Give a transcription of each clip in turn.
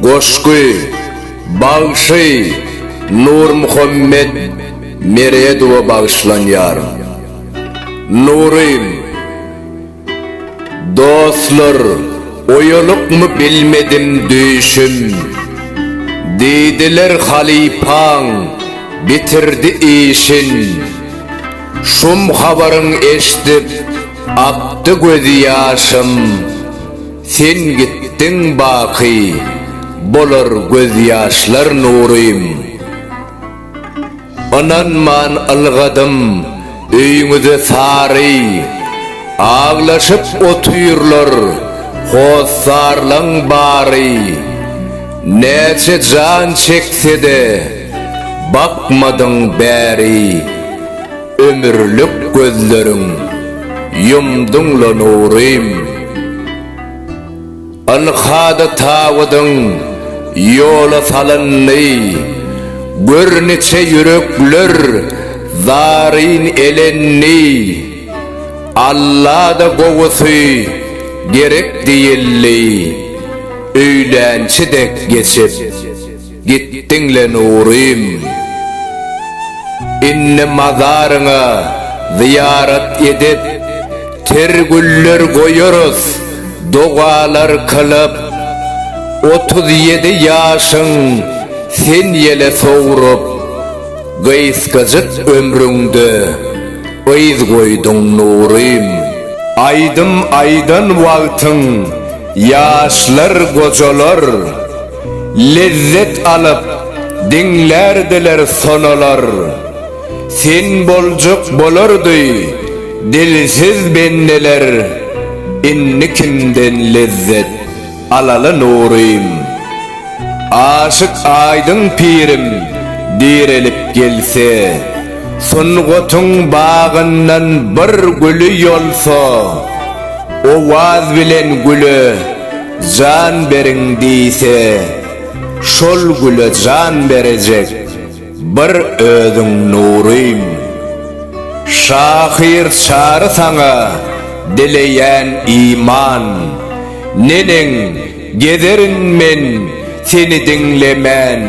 Goşgy, bagşy Nurmuhammet Meredowa bagyşlanýar. Nurym, dostlar, oýalykmy bilmedim düýşüm. Diýdiler halypaň bitirdi işin. Şum habaryn eşdip akdy gözi ýaşym Sen gitdiň baky bolar göz ýaşlar Nurym Ynanman ylgadym öýüňize sary Aglaşyp otyrlar hossarlaň bary Näçe jan çeksede Bakmadyň bäri ömürlik gözleriň Ýumduň-la nurym Ynhada tabydyň ýola salyndy Gör niçe ýürekler zaryn elendi Alla-da gowusy gerek diýildi Öýlänçi dek geçip Gitdiň-le Nurym! Indi mazaryňa zyýarat edip, ter güller goýarys, dogalar kylyp. Otuz ýedi ýaşyň sen ýele sowrup, gysgajyk ömrüňde yz goýduň Nurym! Aýdym aýdan wagtyň ýaşlar gojalar. Lezzet alyp diňlärdiler sonalar. Sen boljak bolardy dilsiz bendeler. Indi kimden lezzet alaly Nurym. Aşyk Aýdyň pirim direlip gelse. Sungatyň bagyndan bir güli ýolsa. Owaz bilen güle. Jan beriň diýse, şol güle jan berejek bir özüň nurym. Şahyr Çary saňa dileýän iman. Neneň, gezerin men seni diňlemän.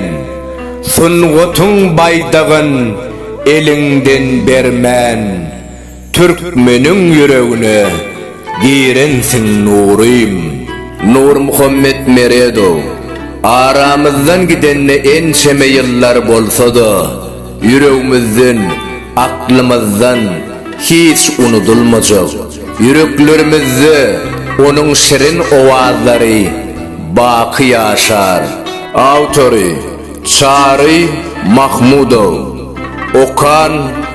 Sungatyň baýdagyn eliňden bermän. Türkmeniň ýüregine girensiň Nurym. Nurmuhammet Meredow aramyzdan gidende ençeme ýyllar bolsa-da, ýüregimizden, aklymyzdan hiç unudylmajak, ýüreklerimizde onuň şirin owazlary baky ýaşar. Awtory, Çary Mahmudow. Okan,